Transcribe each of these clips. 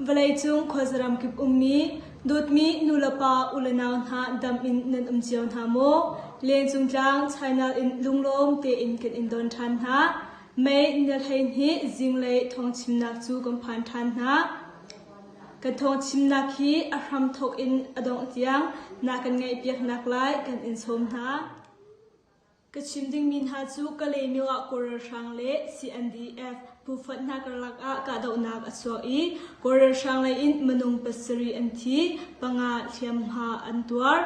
Vawleicung khuazaram kip ummi dawtmi nulepa ulenau hna dam in nan um cio hna maw? Lengcungtlang China in lunglawm tein kan in don ṭhan hna. Mei nilhlei nih zinglei thongchimnak cu kan phan ṭhan hna. Ka thaw chimnak hi a hram thawk in a dongh tiang na kan ngaihpiaknak lai kan in sawm hna. Ka chim dingmi hna cu ka lemio ah kawlralhrang le CNDF phuffat hna karlak ah kahdohnak a chuak i kawlralhrang lei in minung pasarih an thi, panga hliamhma an tuar.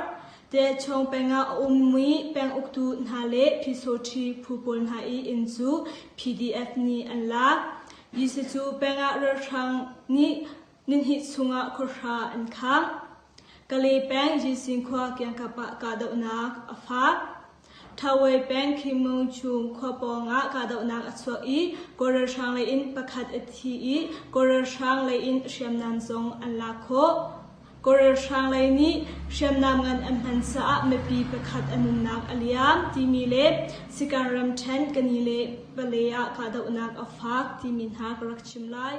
Te Chong peng ah a ummi peng uktu hna le Physothi phu pawl hna i inn cu PDF nih an lak. Jesuh cu pengah ralhrang nih nihnih chungah khuahra an khangh. Kale peng Jising khua kiangkap ah kahdohnak a faak. Thawei peng Khimung chung khua pawngah kahdohnak a chuak i kawl ralhrang leiin pakhat a thi i kawl ralhrang leiin hriamnam zong an lak khawh. Korel hrang lei nih hriamnam ngan an hman caah mipi pakhat a nunnak a liam timi le Sikan ramṭhen Kanile vale ah kahdohnak a faak timi hna ka rak chim lai.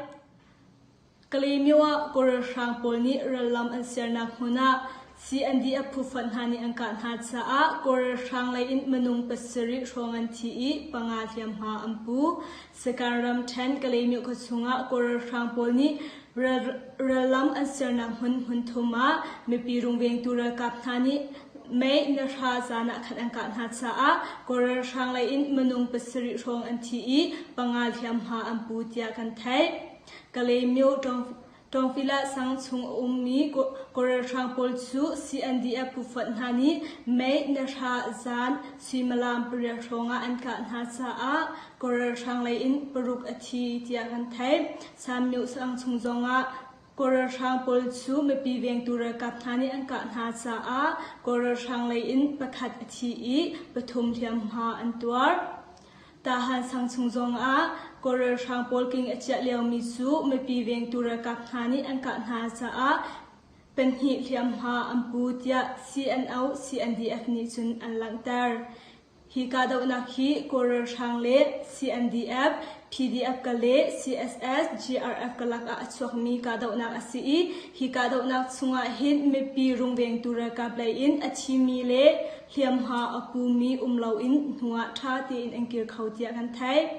Kalemyo ah Korel hrang pawl nih rallam an sernak hmun ah CND a phufonh hna nih an kah hna caah Korel hrang lei in minung pasarih hrawng an thi i panga hliamhma an pu. Sikan ramṭhen Kalemyo khuachung ah Korel hrang pawl nih Rallam an sernak hmun hmunthum ah mipi rungvengtu ralkap hna nih mei na hra zan ah khan an kah hna caah Kawl ralhrang lei in minung pasarih hrawng an thi i panga hliamhma an pu tiah kan theih. Kalaymyo Tawngpila sang chung a ummi Kawl ralhrang pawl cu CNDF phufuat hna nih mei na hra zan suimilam pariat hrawng ah an kah hna caah Kawl ralhrang lei in paruk a thi tiah kan theih. Samneh saang chung zongah Kawl ralhrang pawl cu mipi vengtu ralkap hna nih an kah hna caah Kawl ralhrang lei in pakhat a thi i pathum hliamhma an tuar. Tahan sang chung zongah Kawl ralhrang pawl king a ciah liomi cu mipi vengtu ralkap hna nih an kah hna caah pahnih hliamhma an pu tiah CNO CNDF nih cun an langhter. Hi kahdohnak hi Kawl ralhrang le CNDF, PDF ka le CSS, GRF ka lakah a chuakmi kahdohnak a si i hi kahdohnak chungah hin mipi rungvengtu ralkap lei in a thimi le hliamhma a pumi um loin hnu ah ṭha tein an kir kho tiah kan theih.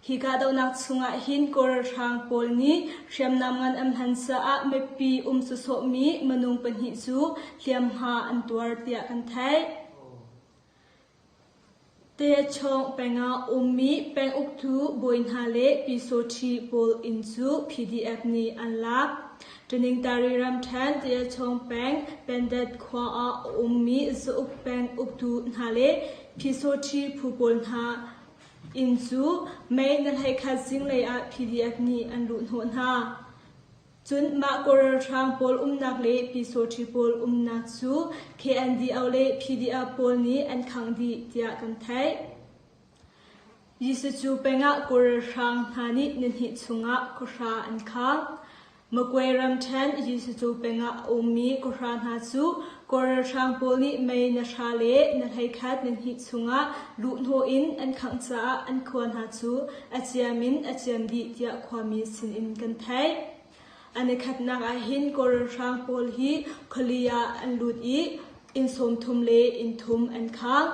Hi kahdohnak chungah hin Kawl ralhrang pawl nih hriamnam ngan an hman caah mipi um sawsawhmi minung pahnih cu hliamhma an tuar tiah kan theih. Techawng pengah ummi penguktu bawi hna le pisaw-ṭhi pawl inn cu PDF nih an lak. Ṭaningtari ramṭhen Techawng peng Pendet khua ah a ummi zauk peng uktu hna le pisaw-ṭhi phu pawl hna inn cu May na hleikhat zinglei ah PDF nih an luh hnawh hna. Cun mah kaw ralhrang pawl umnak le Pyesawṭhi pawl umnak cu KNDO le PDO pawl nih an khangh dih tiah kan theih. Jesuh cu pengah kaw ralhrang hna nih nihnih chungah kawhra an khang. Makwe ram ṭhen Jesuh cu pengah a ummi kawhra hna cu Kawr ralhrang pawl nih mei na hra le na hleikhat na hnih chungah luhhnawh in an khangh caah an khua hna cu a ciam in a ciam dih tiah khuami sinin kan theih. An i khatnak ahhin Kawl ralhrang pawl hi khuali ah an lut i inn sawm thum le inn thum an khang.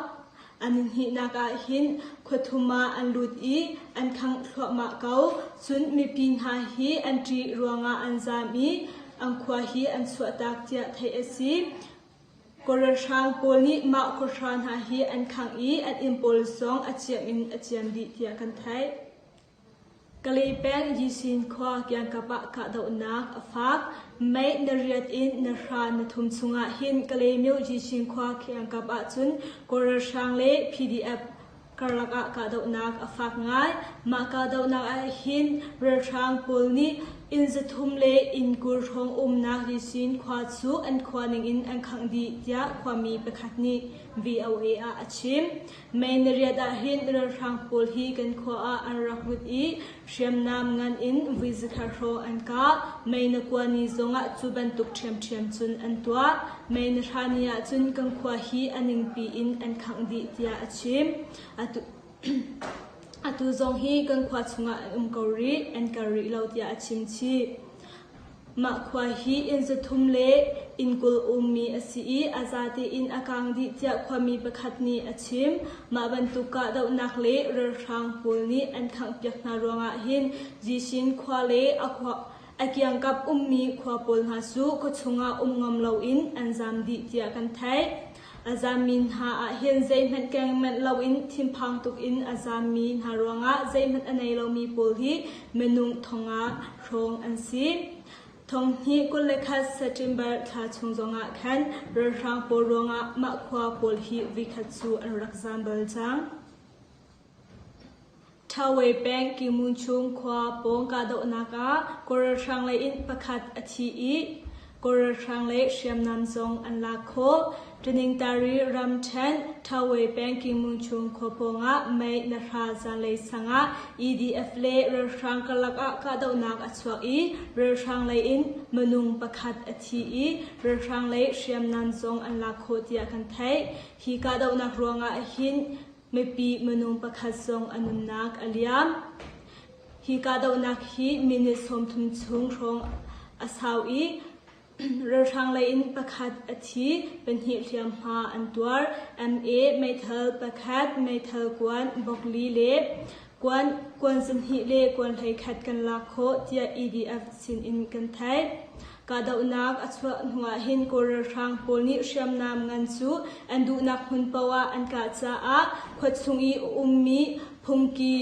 An hnihnak ah hin khua thum ah an lut i an khangh thluahmah ko. Cun mipi hna hi an ṭih ruangah an zaam i an khua hi an chuahtak tiah theih a si. Kaw ralhrang pawl nih mah khua hra hna hi an khangh i an inn pawl zong a ciam in a ciam dih tiah kan theih. Kalepen Yisin khua kiangkap ah kahdohnak a fak. Mei na riat in na hra na thum chungah hin Kalaymyo Yisin khua kiangkap ahcun Kawl ralhrang le PDF karlak ah kahdohnak a fak ngai. Mah kahdohnak ahhin ralhrang pawl nih inn zathum le inn kul hrawng umnak Yisin khua cu an khua ningin an khangh dih, tiah khuami pakhat nih VOA ah a chim. May ni riat ah hin ralhrang pawl hi kan khua ah an rak lut i hriamnam ngan in vui zakhat hrawh an kah. May na kua ni zongah cu bantuk ṭhiamṭhiam cun an tuah. May na thla ni ah cun kan khua hi a ningpi in an khangh dih tiah a chim. Atu, atu zong hi kan khua chungah an um ko rih, an kal rih lo tiah a chim chih. Mah khua hi inn zathum le inn kul ummi a si i a za tein a kaang dih tiah khuami pakhat nih a chim. Mah bantuk kahdohnak le ralhrang pawl nih an khanghpiak hna ruangah hin Zishin khua le a kiangkap ummi khua pawl hna cu khuachung ah um ngam loin an zaam dih tiah kan theih. A zammi hna ah hin zeihmanh keng manh loin thinphang tuk in a zammi hna ruangah zeihmanh a nei lomi pawl hi minung thong ah hrawng an si. Thong hnih kul le khat September thla chung zongah khan ralhrang pawl ruangah mah khua pawl hi vikhat cu an rak zam bal cang. Thawei peng Kymun chung khua pawng kahdohnak ah kawlralhrang lei in pakhat a thi i kawlralhrang lei hriamnam zong an lak khawh. Taningtari ramṭhen Thawei peng Kymun chung khua pawng ah mei na hra zanlei sang ah EDF le ralhrang karlak ah kahdohnak a chuak i ralhrang lei in minung pakhat a thi i ralhrang lei hriamnam zong an lak khawh tiah kan theih. Hi kahdohnak ruangah hin mipi minung pakhat zong a nunnak a liam. Hi kahdohnak hi minute sawmthum chung hrawng a sau i ralhrang lei in pakhat a thi pahnih hliamhma an tuar ma meithal pakhat meithal kuan bokli le Kuan kuan zumhnih le kuan hleikhat kan lak khawh tiah EDF sinin kan theih. Kahdohnak a chuah hnuah hin Kawl ralhrang pawl nih hriamnam ngan cu an duhnak hmun poah an kah caah khua chung i a ummi phungki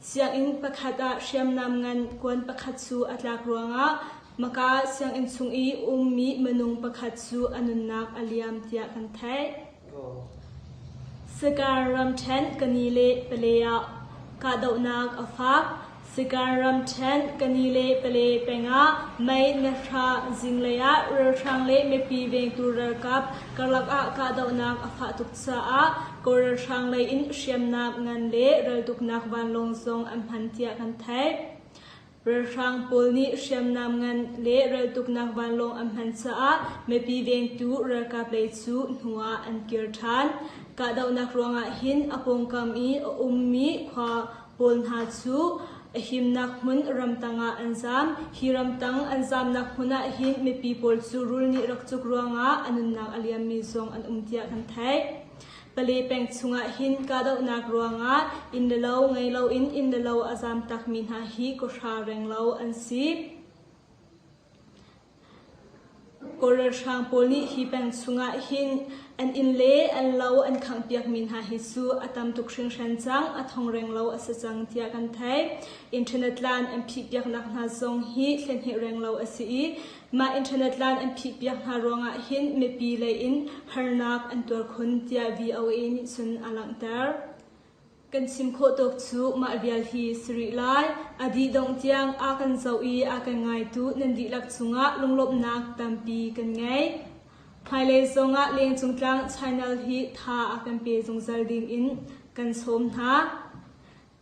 sianginn pakhat ah hriamnam ngan kuan pakhat cu a tlak ruangah Maka sianginn chung i ummi minung pakhat cu a nunnak a liam tiah kan theih. Sakar ramṭhenh ka ni le pale ah kahdohnak a fak. Sakar ramṭhenh ka ni le pale pengah mei na hra zinglei ah ralhrang le mipi vengtu ralkap karlak ah kahdohnak a fah tuk caah Kawl ralhrang lei in hriamnam ngan le raltuknak vanlawng zong an hman tiah kan theih. Ralhrang pawl nih hriamnam ngan le raltuknak vanlawng an hman caah mipi vengtu ralkap lei cu hnu ah an kir ṭhan. Kahdohnak ruangah hin a pawngkam i a ummi khua pawl hna cu a himnak hmun ramtang ah an zaam. Hi ramtang an zaamnak hmun ah hin mipi pawl cu rul nih rak cuk ruangah a nunnak a liammi zong an um tiah kan theih. Pale peng chungah hin kahdohnak ruangah inn le lo ngei loin inn le lo a zaam takmi hna hi kawhra reng lo an si. Kawlralhrang pawl nih hi peng chungah hin an inn le an lo an khanghpiakmi hna hi cu a tam tuk hringhran cang a thongreng lo a si cang tiah kan theih. Internet tlan an phihpiaknak hna zong hi thlenheh reng lo a si i Mah internet tlan an phihpiak hna ruangah hin mipi leiin harnak an tuar khun tiah VOA nih cun a langhter. Kan chim khawh tawk cu mah vial hi si rih lai. A dih dongh tiang a kan zoh i a kan ngaitu nan dihlak cungah lunglawmhnak tampi kan ngei. Hmailei zongah lengcung tlang Channel hi tha a kan pe zungzal dingin kan sawm hna.